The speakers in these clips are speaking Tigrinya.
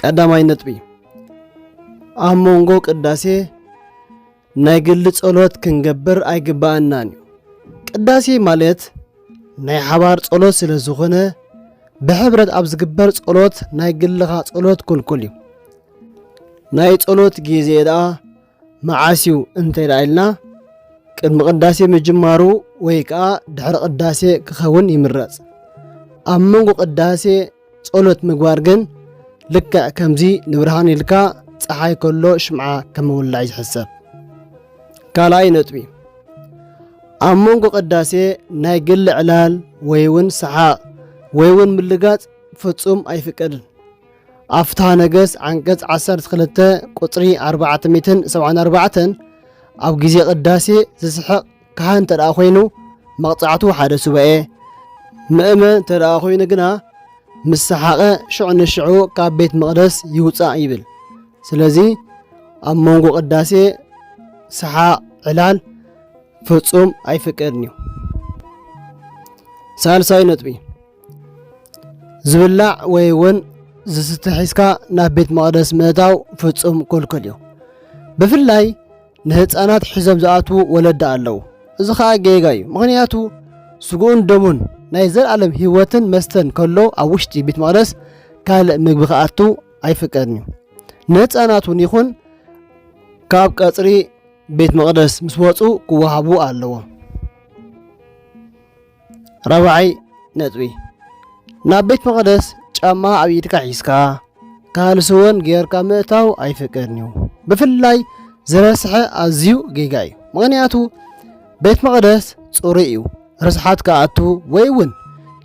ቀዳማይ ነጥቢ ኣብ መንጎ ቅዳሴ ናይ ግሊ ጸሎት ክንገብር ኣይግባኣናን እዩ። ቅዳሴ ማለት ናይ ሓባር ጸሎት ስለ ዝኾነ ብሕብረት ኣብ ዝግበር ጸሎት ናይ ግልኻ ጸሎት ክልኩል እዩ። ናይ ጸሎት ግዜ ደኣ መዓስ እዩ እንተ ኢልና ቅድሚ ቅዳሴ ምጅማሩ ወይ ከዓ ድሕሪ ቅዳሴ ክኸውን ይምረጽ። ኣብ መንጎ ቅዳሴ ጸሎት ምግባር ግን ልክዕ ከምዚ ንብርሃን ኢልካ ፀሓይ ከሎ ሽምዓ ከም ምውላዕ ዝሕሰብ። ካልኣይ ነጥቢ ኣብ መንጎ ቅዳሴ ናይ ግሊ ዕላል ወይ እውን ሰሓቕ ወይ እውን ምልጋጽ ፍጹም ኣይፍቀድን። ኣብ ፍትሓ ነገሥት ዓንቀጽ ዓሰርተ ክልተ ቁጽሪ ኣርባዕተ ሚእትን ሰብዓን ኣርባዕተን ኣብ ግዜ ቅዳሴ ዝስሕቕ ካህን እንተ ደኣ ዀይኑ መቕጻዕቱ ሓደ ሱባኤ፣ ምእመን እንተ ደኣ ዀይኑ ግና ምስ ሰሓቐ ሽዑ ንሽዑ ካብ ቤት መቕደስ ይውጻእ ይብል። ስለዚ ኣብ መንጎ ቅዳሴ ሰሓቕ ዕላል ፍጹም ኣይፍቀድን እዩ። ሳልሳይ ነጥቢ ዝብላዕ ወይ እውን ዝስተ ሒዝካ ናብ ቤት መቕደስ ምእታው ፍጹም ክልኩል እዩ ብፍላይ ንህፃናት ሒዞም ዝኣትዉ ወለዲ ኣለዉ እዚ ከዓ ጌጋ እዩ ምክንያቱ ስጉኡን ደሙን ናይ ዘለዓለም ህይወትን መስተን ከሎ ኣብ ውሽጢ ቤት መቕደስ ካልእ ምግቢ ክኣቱ ኣይፍቀድን እዩ ንህፃናት እውን ይኹን ካብ ቀፅሪ ቤት መቕደስ ምስ ወፁ ክወሃቡ ኣለዎም ራብዓይ ነጥቢ ናብ ቤት መቕደስ ጫማ ኣብ ኢድካ ሒዝካ ካልሲ እውን ጌርካ ምእታው ኣይፍቀድን እዩ ብፍላይ ዝረስሐ ኣዝዩ ጌጋ እዩ ምክንያቱ ቤት መቕደስ ፅሩይ እዩ ርስሓት ክኣቱ ወይ እውን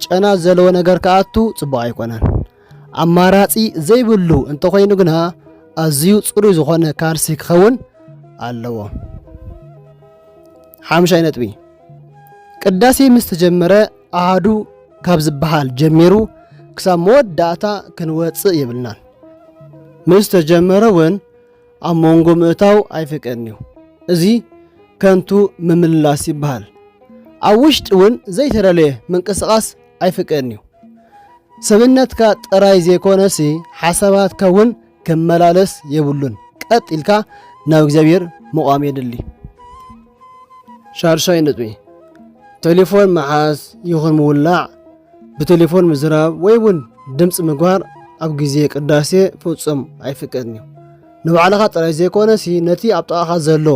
ጨና ዘለዎ ነገር ክኣቱ ፅቡቅ ኣይኮነን ኣማራጺ ዘይብሉ እንተኾይኑ ግና ኣዝዩ ጽሩይ ዝኾነ ካልሲ ክኸውን ኣለዎ። ሓምሻይ ነጥቢ ቅዳሴ ምስ ተጀመረ ኣሃዱ ካብ ዝበሃል ጀሚሩ ክሳብ መወዳእታ ክንወፅእ የብልናን። ምስ ተጀመረ እውን ኣብ መንጎ ምእታው ኣይፍቀድን እዩ። እዚ ከንቱ ምምልላስ ይበሃል። ኣብ ውሽጢ እውን ዘይተደለየ ምንቅስቓስ ኣይፍቀድን እዩ። ሰብነትካ ጥራይ ዘይኮነሲ ሓሳባትካ እውን ክመላለስ የብሉን። ቀጥ ኢልካ ናብ እግዚኣብሔር ምቛም የድሊ። ሻድሻይ ነጥቢ ቴሌፎን ምሓዝ ይኹን ምውላዕ፣ ብቴሌፎን ምዝራብ ወይ እውን ድምፂ ምግባር ኣብ ግዜ ቅዳሴ ፍጹም ኣይፍቀድን እዩ። ንባዕልኻ ጥራይ ዘይኮነሲ ነቲ ኣብ ጥቓኻ ዘሎ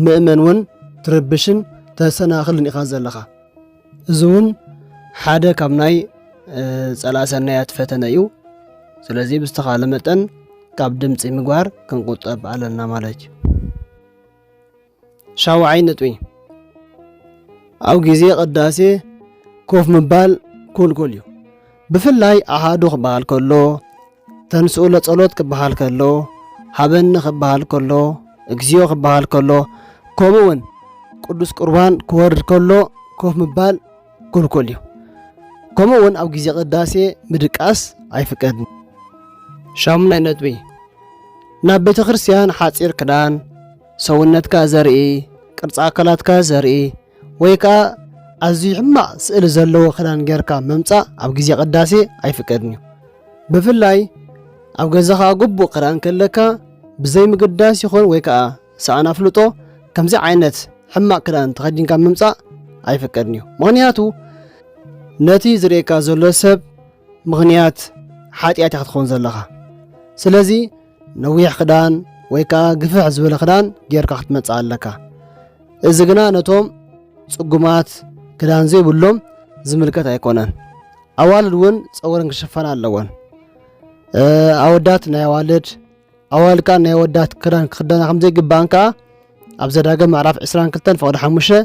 ምእመን እውን ትርብሽን ተሰናኽልን ኢኻ ዘለኻ። እዚ እውን ሓደ ካብ ናይ ጸላእ ሰናያት ፈተነ እዩ ስለዚ ብዝተኻለ መጠን ካብ ድምፂ ምግባር ክንቁጠብ ኣለና ማለት እዩ ሻውዓይ ነጥቢ ኣብ ግዜ ቅዳሴ ኮፍ ምባል ኩልኩል እዩ ብፍላይ ኣሃዱ ክበሃል ከሎ ተንሥኡ ለጸሎት ክበሃል ከሎ፣ ሃበኒ ክበሃል ከሎ፣ እግዚኦ ክበሃል ከሎ፣ ከምኡ እውን ቅዱስ ቁርባን ክወርድ ከሎ ኮፍ ምባል ክልኩል እዩ። ከምኡ እውን ኣብ ግዜ ቅዳሴ ምድቃስ ኣይፍቀድን። ሻሙናይ ነጥቢ ናብ ቤተ ክርስቲያን ሓፂር ክዳን፣ ሰውነትካ ዘርኢ፣ ቅርፂ ኣካላትካ ዘርኢ ወይ ከኣ ኣዝዩ ሕማቕ ስእሊ ዘለዎ ክዳን ጌርካ ምምጻእ ኣብ ግዜ ቅዳሴ ኣይፍቀድን እዩ። ብፍላይ ኣብ ገዛኻ ግቡእ ክዳን ከለካ ብዘይ ምግዳስ ይኹን ወይ ከኣ ሰኣን ኣፍልጦ ከምዚ ዓይነት ሕማቕ ክዳን ተኸዲንካ ምምጻእ ኣይፍቀድን እዩ። ምኽንያቱ ነቲ ዝርእየካ ዘሎ ሰብ ምኽንያት ሓጢኣት ኢኻ ክትኸውን ዘለኻ። ስለዚ ነዊሕ ክዳን ወይ ከዓ ግፍሕ ዝበለ ክዳን ጌርካ ክትመፅእ ኣለካ እዚ ግና ነቶም ፅጉማት ክዳን ዘይብሎም ዝምልከት ኣይኮነን ኣዋልድ እውን ፀጉረን ክሸፈና ኣለወን ኣወዳት ናይ ኣዋልድ ኣዋልድ ከዓ ናይ ወዳት ክዳን ክክደና ከምዘይግባእን ከዓ ኣብ ዘዳገ ምዕራፍ 22 ፍቕዲ ሓሙሽተ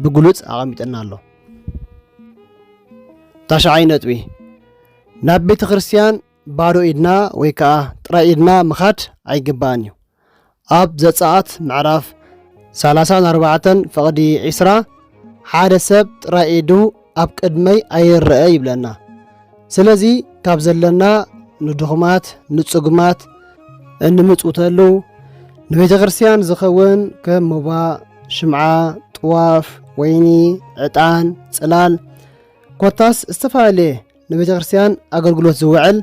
ብግሉፅ ኣቐሚጥና ኣሎ ታሽዓይ ነጥቢ ናብ ቤተ ክርስትያን ባዶ ኢድና ወይ ከኣ ጥራይ ኢድና ምኻድ ኣይግባእን እዩ። ኣብ ዘጸኣት ምዕራፍ ሰላሳን ኣርባዕተን ፍቕዲ ዒስራ ሓደ ሰብ ጥራይ ኢዱ ኣብ ቅድመይ ኣይረአ ይብለና። ስለዚ ካብ ዘለና ንድኹማት፣ ንጽጉማት እንምጽውተሉ ንቤተ ክርስቲያን ዝኸውን ከም ሞባ፣ ሽምዓ፣ ጥዋፍ፣ ወይኒ፣ ዕጣን፣ ጽላል ኮታስ ዝተፈላለየ ንቤተ ክርስቲያን ኣገልግሎት ዝውዕል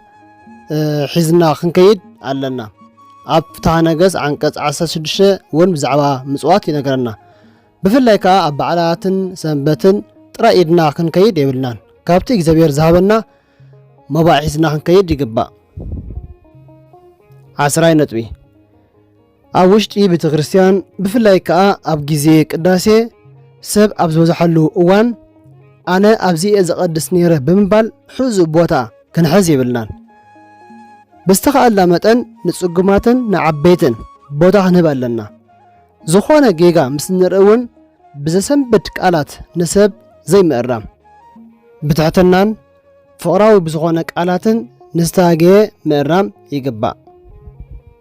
ሒዝና ክንከይድ ኣለና ኣብ ፍትሃ ነገስ ዓንቀጽ 16 እውን ብዛዕባ ምጽዋት ይነገረና ብፍላይ ከዓ ኣብ በዓላትን ሰንበትን ጥራይ ኢድና ክንከይድ የብልናን ካብቲ እግዚኣብሔር ዝሃበና መባዕ ሒዝና ክንከይድ ይግባእ ዓስራይ ነጥቢ ኣብ ውሽጢ ቤተ ክርስቲያን ብፍላይ ከኣ ኣብ ግዜ ቅዳሴ ሰብ ኣብ ዝበዝሓሉ እዋን ኣነ ኣብዚ እየ ዘቐድስ ነይረ ብምባል ሕዙ ቦታ ክንሕዝ የብልናን። ብዝተኻእልና መጠን ንጽጉማትን ንዓበይትን ቦታ ክንህብ ኣለና። ዝኾነ ጌጋ ምስ ንርኢ እውን ብዘሰንብድ ቃላት ንሰብ ዘይምእራም፣ ብትሕትናን ፍቕራዊ ብዝኾነ ቃላትን ንዝተጋገየ ምእራም ይግባእ።